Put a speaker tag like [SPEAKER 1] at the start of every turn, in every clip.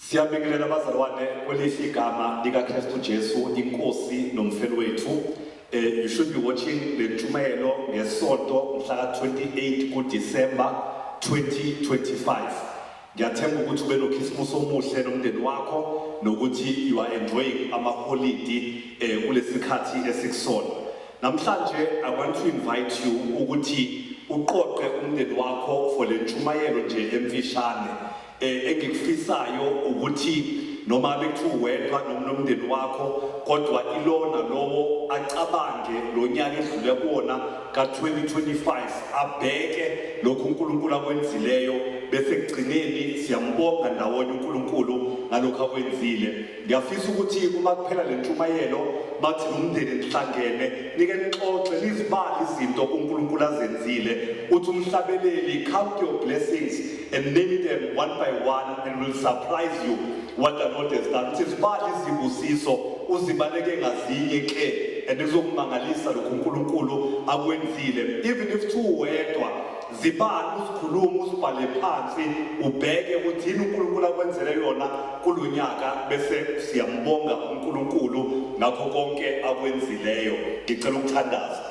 [SPEAKER 1] Siyabingelela bazalwane kwelihle igama likaKristu Jesu inkosi nomfelo wethu. Eh you should be watching le ntshumayelo ngesonto mhla ka-28 kuDisemba 2025. Ngiyathemba ukuthi ube nokhisimusi omuhle nomndeni wakho nokuthi you are enjoying amaholidi eh kulesikhathi esikusona. Namhlanje I want to invite you ukuthi uqoqe umndeni wakho for le ntshumayelo nje emfishane. Eh, engikufisayo ukuthi noma bekuthiwa uwedwa noma nomndeni wakho kodwa ilona lowo acabange lo nyaka edlule kuwona ka-2025 abheke lokhu unkulunkulu akwenzileyo bese ekugcineni siyambonga ndawonye unkulunkulu ngalokhu akwenzile Ngiyafisa ukuthi uma kuphela le ntshumayelo bathi nomndeni nihlangene nike nixoxe nizibale izinto uNkulunkulu azenzile uthi umhlabeleli count your blessings and name them one by one and will surprise you what the Lord has done uthi zibale izibusiso uzibaleke ngazinye ke and kuzokumangalisa lokhu uNkulunkulu akwenzile even if two wedwa Zibala uzikhuluma uzibhale phansi ubheke ukuthi yini uNkulunkulu akwenzele yona kulo nyaka bese siyambonga uNkulunkulu ngakho konke akwenzileyo. Ngicela ukuthandaza.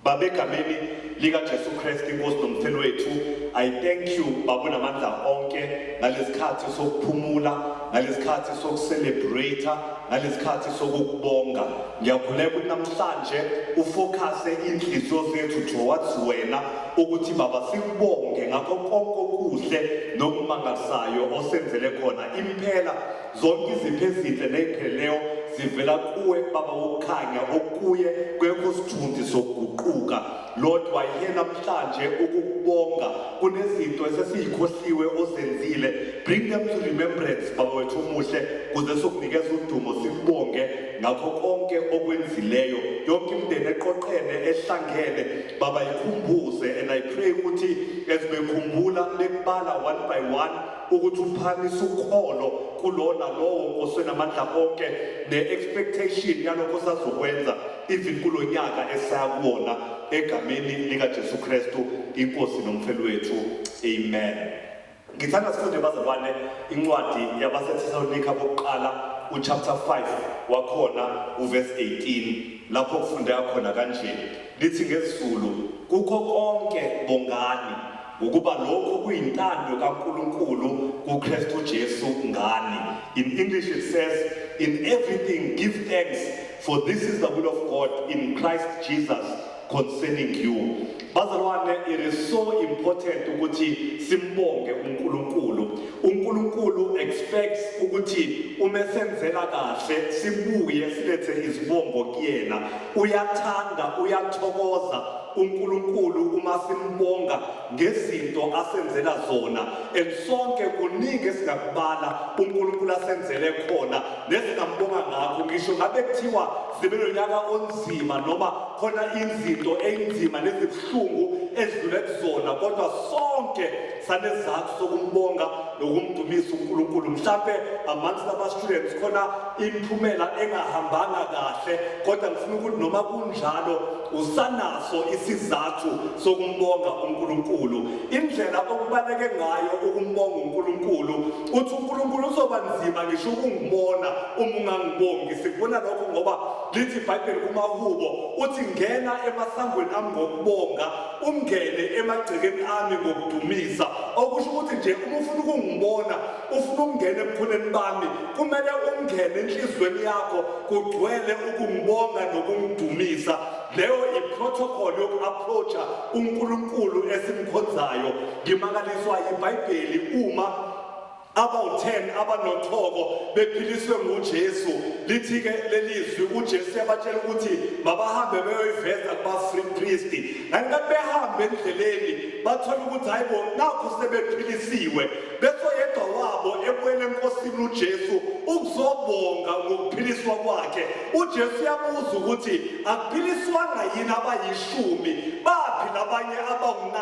[SPEAKER 1] Baba egameni likaJesu Kristu iNkosi noMfeli wethu, I thank you Baba unamandla onke ngalesikhathi sokuphumula, ngalesikhathi sokucelebrate Ngalesikhathi sokukubonga ngiyakhuleka ukuthi namhlanje ufocuse inhliziyo zethu towards wena ukuthi baba sikubonge ngakho konke okuhle nokumangalisayo osenzele khona impela zonke izipho ezinhle ney'pheleyo zivela kuwe baba wokukhanya okuye kwekho sithunzi sokuguquka Lord wayiye namhlanje ukukubonga kunezinto esesiyikhohliwe ozenzile bring them to remembrance baba wethu omuhle kuze sokunikeza udumo sikubonge ngakho konke okwenzileyo yonke imndeni eqoqene ehlangene baba ikhumbuze and i pray ukuthi as bekhumbula bekubala one by one ukuthi uphakamisa ukholo kulona lowo osenamandla onke ne-expectation yalokho sazokwenza even kulo nyaka esaya kuwona egameni likaJesu Kristu iNkosi noMfeli wethu amen ngithanda sifunde bazalwane incwadi yabaseThesalonika bokuqala uchapter 5 wakhona uverse 18 lapho kufundeka khona kanje lithi ngezulu kukho konke bongani ngokuba lokhu kuyintando kaNkulunkulu kuKristu Jesu ngani in English it says in everything give thanks For this is the will of God in Christ Jesus concerning you. Bazalwane, it is so important ukuthi simbonge uNkulunkulu. UNkulunkulu expects ukuthi uma senzela kahle sibuye silethe izibongo kuyena. Uyathanda, uyathokoza uNkulunkulu uma simbonga ngezinto asenzela zona and sonke kuningi esingakubala uNkulunkulu asenzele khona nesingambonga ngakho ngisho ngabe kuthiwa sibe nonyaka onzima noma khona izinto einzima nezibuhlungu edlule kuzona kodwa sonke sanezathu sokumbonga nokumdumisa uNkulunkulu mhlambe amongst ama students khona imiphumela engahambanga kahle kodwa ngifuna ukuthi noma kunjalo Usanaso isizathu sokumbonga uNkulunkulu. Indlela okubaleke ngayo ukumbonga uNkulunkulu, uthi uNkulunkulu uzoba nzima ngisho ukungibona uma ungangibongi. Sikubona lokho ngoba lithi iBhayibheli kumahubo, uthi ngena emasangweni ami ngokubonga, ungene emagcekeni ami ngokudumisa. Okusho ukuthi nje uma ufuna ukungibona ufuna ukungena ebukhoneni bami kumele ungene enhliziyweni yakho kugcwele ukungibonga nokungidumisa leyo iprotocol yoku-approacha unkulunkulu esimkhonzayo ngimakaliswa ibhayibheli uma abawu-10 abanothoko bephiliswe ngujesu lithi-ke lelizwi ujesu yabatshela ukuthi mabahambe beyoyiveza kubafripristi ngani kathi behambe endleleni bathole ukuthi hhayi bo nakhu sebephilisiwe Bese oyedwa wabo ebuyela eNkosini uJesu ukuzobonga ngokuphiliswa kwakhe. UJesu uyabuza ukuthi akuphiliswanga yini abayishumi, baphi labanye abawu-9?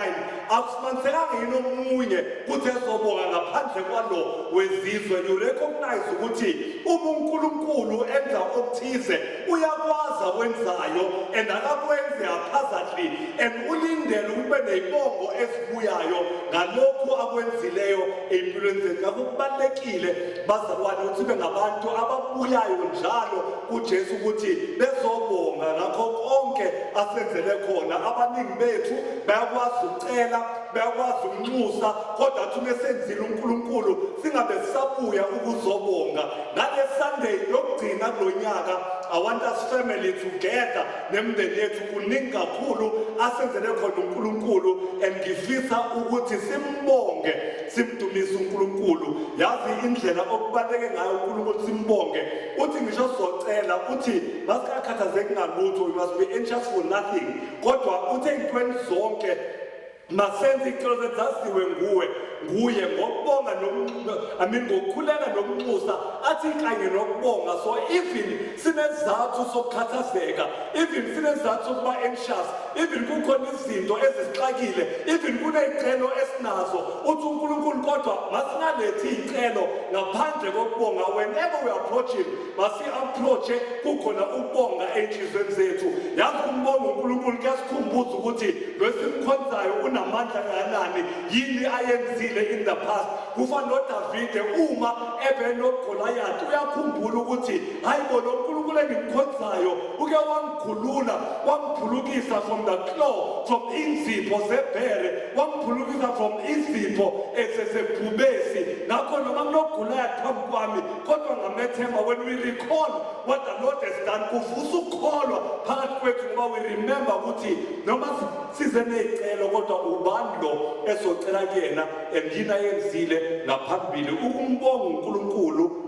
[SPEAKER 1] Akusimanisekanga yini omunye ukuthi ezobonga ngaphandle kwalo wezizwe? You recognize ukuthi uma uNkulunkulu enza okuthize Uyakwazi akwenzayo and akakwenzi haphazardly and ulindele ukube neyibongo ezibuyayo ngalokhu akwenzileyo ey'mpilweni zethu ngakho kubalulekile bazalwane ukuthi ibe ngabantu ababuyayo njalo kujesu ukuthi bezobonga ngakho konke asenzele khona abaningi bethu bayakwazi ukucela bayakwazi ukunxusa kodwa athi uma esenzile uNkulunkulu singabe sisabuya ukuzobonga ngale Sunday yokugcina kulo nyaka I want us family together nemndeni yethu kuningi kakhulu asenzele khona uNkulunkulu and ngifisa ukuthi simbonge simdumise uNkulunkulu yazi indlela okubaleke ngayo uNkulunkulu simbonge uthi ngisho socela uthi masikakhathazeki ngalutho you must be anxious for nothing kodwa uthe intweni zonke Masenze icelo zaziwe nguwe nguye ngokubonga I mean ngokukhuleka nokunxusa athi kanye nokubonga so even sinezathu sokukhathazeka even sinezathu sokuba anxious even kukhona izinto ezisixakile even kuney'celo esinazo uthi unkulunkulu kodwa masingalethi iy'celo ngaphandle kokubonga whenever we approach him masi-approach-e kukhona ukubonga ey'nhliziyweni zethu yazi kumbonga unkulunkulu kuyasikhumbuza ukuthi lwesimkhonzayo unamandla kanani yini ayenzile in the past kufana nodavide uma ebenogolayathi uyakhumbula ukuthi hhayi bo lo nkulunkulu engimkhonzayo uke wangikhulula wangiphulukisa from the claw from inzipho zebhere wangiphulukisa from izipho ezesebhubesi ngakho noma kunogulayathi phambi kwami kodwa ngamethemba when we recall what the lord has done kuvusa ukukholwa phakathi kwethu ngoba we remember ukuthi noma size ney'celo kodwa ubani lo ezocela kuyena and yini ayenzile ngaphambili ukumbonga unkulunkulu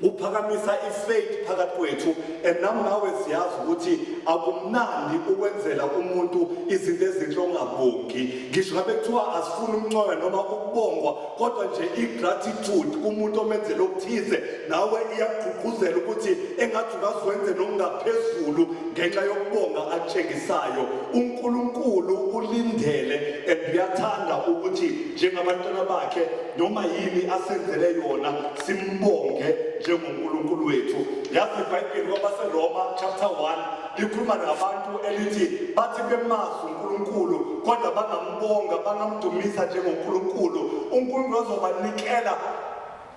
[SPEAKER 1] uphakamisa ifaith phakathi kwethu and nam nawe siyazi ukuthi akumnandi ukwenzela umuntu izinto ezinhle ongabongi ngisho ngabe kuthiwa asifuni umncoyo noma ukubongwa kodwa nje i-gratitude kumuntu omenzela okuthize nawe iyakugqugquzela ukuthi engathi ungazwenze nokungaphezulu ngenxa yokubonga atshengisayo unkulunkulu ulindele and uyathanda ukuthi njengabantwana bakhe noma yini asenzele yona simbonge njengonkulunkulu wethu yazi ibhayibheli kwabaseroma chapter 1 likhuluma nabantu elithi bathi bemazi uNkulunkulu kodwa bangambonga bangamdumisa njengoNkulunkulu uNkulunkulu azobanikela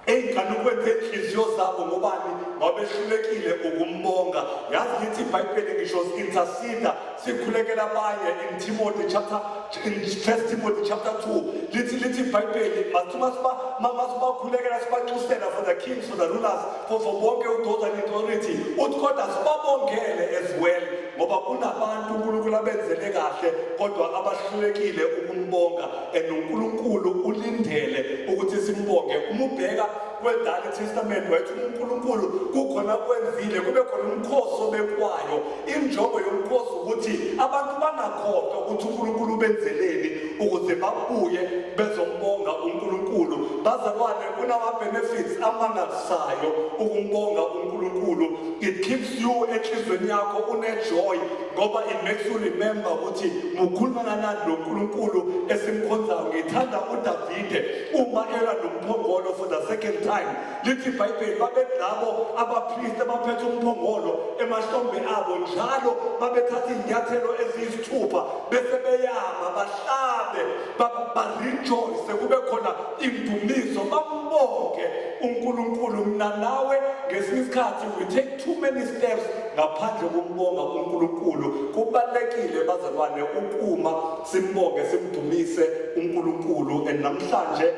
[SPEAKER 1] ey'nganukweni zenhliziyo zabo ngobani ngoba behlulekile ukumbonga yazi ngithi ibhayibheli ngisho interceda sikhulekela abanye in timothy chapter in first timothy chapter 2 lithi lithi ibhayibheli masithimasibakhulekelasibacusela for the kings for the rulers kuzo bonke udoza netority uthi kodwa sibabongele as well ngoba kunabantu unkulunkulu abenzele kahle kodwa abahlulekile ukumbonga and unkulunkulu ulindele ukuthi simbonge uma ubheka kwedala itestament wayethi unkulunkulu kukhona kwenzile kube khona umkhosi obekwayo injongo yomkhosi ukuthi abantu bangakhohlwa ukuthi unkulunkulu ubenzeleni ukuze babuye bezombonga unkulunkulu bazalwane kunama-benefits amangalisayo ukumbonga unkulunkulu it keeps you enhlizweni yakho unejoy ngoba it makes you remember ukuthi mukhuluma kanani lo nkulunkulu esimkhonzayo ngithanda udavide uma elwa nomphongolo for the second time lithi ibhayibheli babelabo abapristi abaphethe umphongolo emahlombe abo njalo babethatha izinyathelo eziyisithupha bese beyama bahlabe barejoyce kube khona Indumiso bakubonge uNkulunkulu mina nawe ngesinye isikhathi we take too many steps ngaphandle kokumbonga uNkulunkulu kubalekile bazalwane ukuma simbonge simdumise uNkulunkulu and namhlanje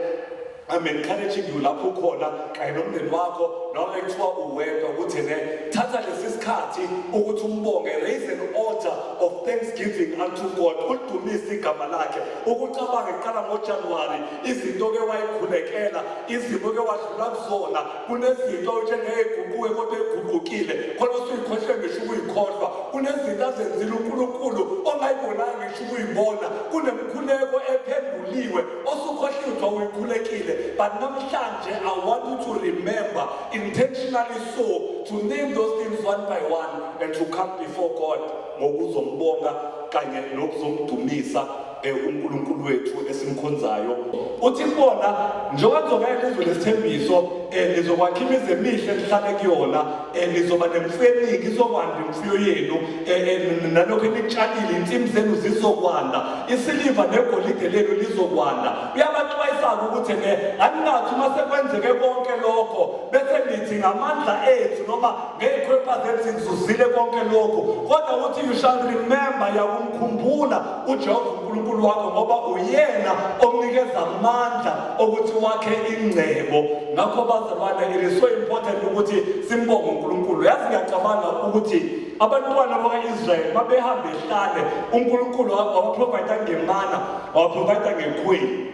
[SPEAKER 1] I'm encouraging you lapho khona kanye nomndeni wakho noma ekuthiwa uwedwa ukuthi ne thatha lesi sikhathi ukuthi umbonge raise an altar of thanksgiving unto God udumise igama lakhe ukucabanga iqala ngojanuwari izinto ke wayikhulekela izimo ke wadlula kuzona kunezinto njengeyiguquke kodwa eyiguqukile khona usuyikhohle ngisho ukuyikhohlwa kunezinto azenzile unkulunkulu ongayibonanga ngisho ukuyibona kunemkhuleko ephenduliwe osukhohliwe kuthiwa uyikhulekile but namhlanje i want you to remember intentionally so to name those things one by one and to come before god ngokuzombonga kanye nokuzomdumisa eh, uNkulunkulu wethu esimkhonzayo uthi kubona njengoba kuzongena lizwe lesithembiso um eh, nizokwakha imizi emihle nihlale kuyona um eh, nizoba nemfuyo eningi izokwanda imfuyo yenu um nalokho enikutshalile insimu zenu zizokwanda isiliva negolide lenu lizokwanda uyabaxwayisa-ke ukuthi ke aninathi uma sekwenzeke konke lokho bese nithi ngamandla ethu noma Ngey'khwepha zethi ngizuzile konke lokhu kodwa ukuthi you shall remember yakumkhumbula ujehova unkulunkulu wakho ngoba uyena omnikeza amandla okuthi wakhe ingcebo ngakho bazalwane it is so important ukuthi simbonge unkulunkulu yazi ngiyacabanga ukuthi abantwana bakayisrayeli babehambe ehlane unkulunkulu wabaprovayida ngemana wabaprovayida ngekhweli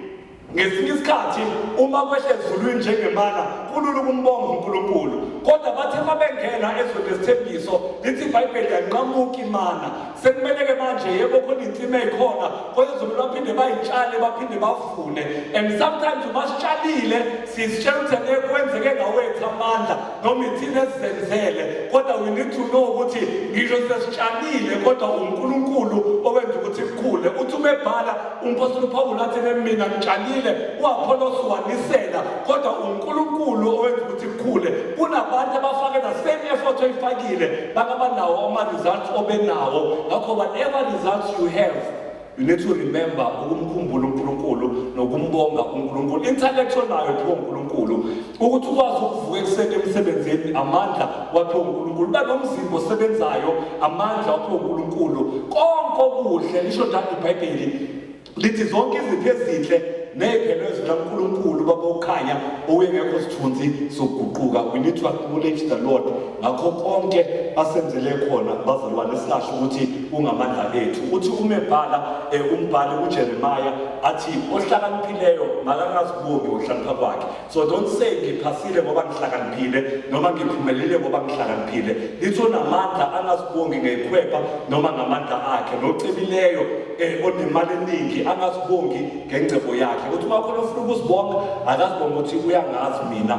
[SPEAKER 1] Ngesinye isikhathi uma kwehla ezulwini njengemana kulula ukumbonga uNkulunkulu kodwa bathe uma bengena ezweni lesithembiso lithi ibhayibheli yanqamuka imana sekumele-ke manje yebo khona insima eyikhona kwezulu baphinde bayitshale baphinde bavune and sometimes uma sitshalile sizitshela ukuthi ngeke kwenzeke ngawethu amandla noma ithina esizenzele kodwa we need to know ukuthi ngisho sesitshalile kodwa uNkulunkulu owenza ukuthi kukhule uthi umebhala umpostoli uPawulu athi mina ngitshalile uApollos wanisela kodwa uNkulunkulu owenza ukuthi kukhule kunabantu abafake the same effort oyifakile bakabanawo ama results obenawo ngakho whatever results you have You need to remember ukumkhumbula uNkulunkulu nokumbonga uNkulunkulu. Intellectual nayo pho uNkulunkulu ukuthi ukwazi ukuvuka ekuseni emsebenzini amandla wapho uNkulunkulu. Banomzimba osebenzayo amandla wapho uNkulunkulu. Konke okuhle lisho njalo iBhayibheli lithi zonke izinto ezinhle nezelo zikaNkulunkulu babokhanya owengekho sithunzi sokuguquka. We need to acknowledge the Lord Ngakho konke asenzele khona bazalwane sasho ukuthi ungamandla ethu. Uthi uma ebhala eh, umbhali uJeremiah athi ohlakaniphileyo makangazibongi ngokuhlakanipha kwakhe. So don't say ngiphasile ngoba ngihlakaniphile noma ngiphumelele ngoba ngihlakaniphile. Lithi onamandla angazibongi ngekhwepha noma ngamandla akhe nocebileyo eh, onemali eningi angazibongi ngengcebo yakhe. Uthi uma khona ufuna ukuzibonga akazibonga ukuthi uyangazi mina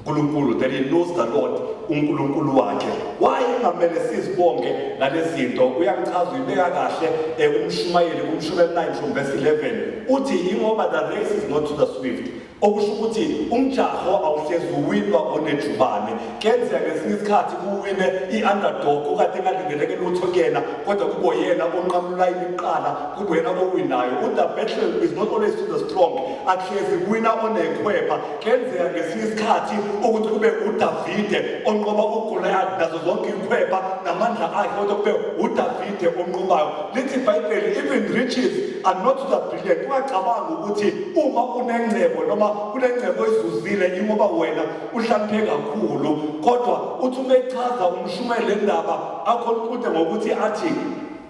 [SPEAKER 1] uNkulunkulu that he knows the Lord uNkulunkulu wakhe why kungamele sizibonge ngalezinto uyangichaza uyibeka kahle eh, umshumayeli kumshumela 9 from verse 11 uthi ingoba the race is not to the swift okusho ukuthi umjaho awuhlezi uwinwa onejubane kenzeka ngesinye isikhathi kuwine i-underdog okade engalindeleke lutho kuyena kodwa kubo yena onqamula imiqala kuyena owinayo u-the battle is not always to the strong akuhlezi kuwina onekhwepha Kuyenzeka ngesinye isikhathi ukuthi kube uDavide onqoba uGoliath nazo zonke ikhweba namandla akhe kodwa kube uDavide onqobayo lithi iBhayibheli even riches are not the brilliant ungacabanga ukuthi uma unengcebo noma kunengcebo ezuzile ingoba wena uhlamphe kakhulu kodwa uthi uma echaza umshumayeli lendaba akhona uqhude ngokuthi athi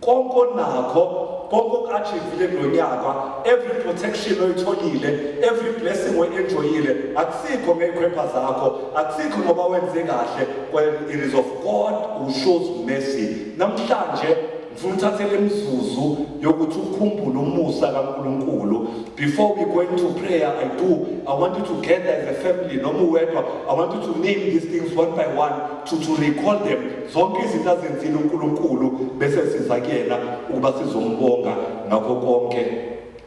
[SPEAKER 1] konke onakho konke oku-achivile kulo nyaka every protection oyitholile every blessing oyi-enjoyile akusikho ngey'khwepha zakho akusikho ngoba wenze kahle well it is of god who shows mercy namhlanje ngifuna uthathele imizuzu yokuthi ukhumbule umusa kaNkuluNkulu before we go into prayer i do i want you to gather as a family noma uwedwa i want you to name these things one by one to, to recall them Zonke izinto azenzile uNkulunkulu bese siza kuyena ukuba sizombonga ngakho konke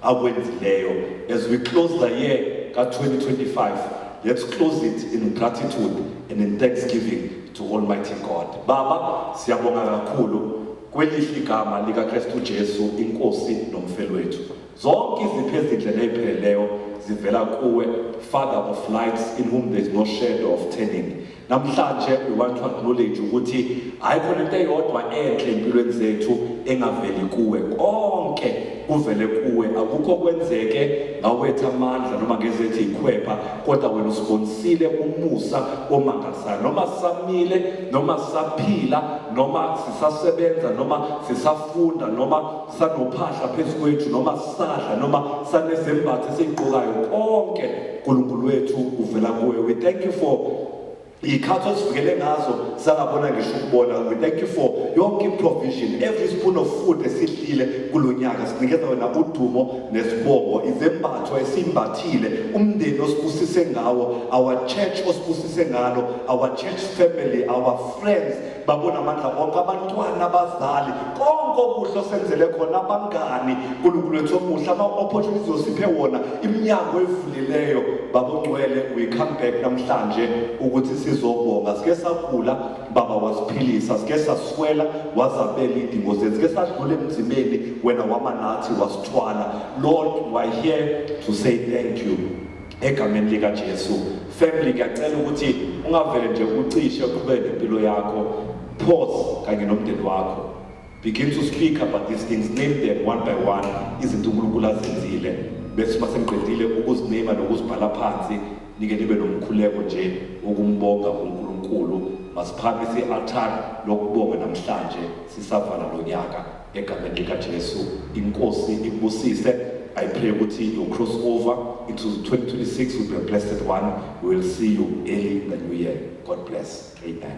[SPEAKER 1] akwenzileyo. As we close the year ka-2025, let's close it in gratitude and in thanksgiving to Almighty God. Baba, siyabonga kakhulu kwelihle igama likaKristu Jesu inkosi nomfelo wethu. Zonke izipho ezinhle nezipheleleyo zivela kuwe, Father of lights in whom there is no shadow of turning. Namhlanje we want to acknowledge ukuthi hayi khona into eyodwa enhle empilweni zethu engaveli kuwe konke kuvele kuwe akukho kwenzeke ngawetha amandla noma ngezethi ikhwepha kodwa wena usibonisile umusa omangazayo noma samile noma saphila noma sisasebenza noma sisafunda noma sanophahla phezu kwethu noma sadla noma sanezembatho esiyigqokayo konke uNkulunkulu wethu uvela kuwe we thank you for iy'khathi osivikele ngazo sangabona ngisho ukubona we thank you for yonke i-provision every spoon of food esidlile kulo nyaka sinikeza wena udumo nesibongo izembatho esimbathile umndeni osibusise ngawo our church osibusise ngalo our church family our friends babona amandla wonke abantwana abazali konke okuhle osenzele khona abangani nkulunkulu wethu omuhle ama-opportunities osiphe wona iminyango evulileyo babongcwele we come back namhlanje ukuthi sizobonga sike sagula baba wasiphilisa sike saswela wazabela iy'dingo zethu sike sadlula emzimeni wena wama nathi wasithwala lord we are here to say thank you Egameni lika Jesu family ngiyacela ukuthi ungavele nje ucishe uqhubeke nempilo yakho pause kanye nomndeni wakho begin to speak about these things name them one by one izinto uNkulunkulu azenzile bese uma sengiqedile ukuzinema nokuzibhala phansi nike nibe nomkhuleko nje wokumbonga uNkulunkulu masiphamise i-altar lokubonga namhlanje sisavala lo nyaka egameni likaJesu inkosi ikubusise I pray ukuthi you cross over into 2026 will be a blessed one we will see you early in the new year God bless amen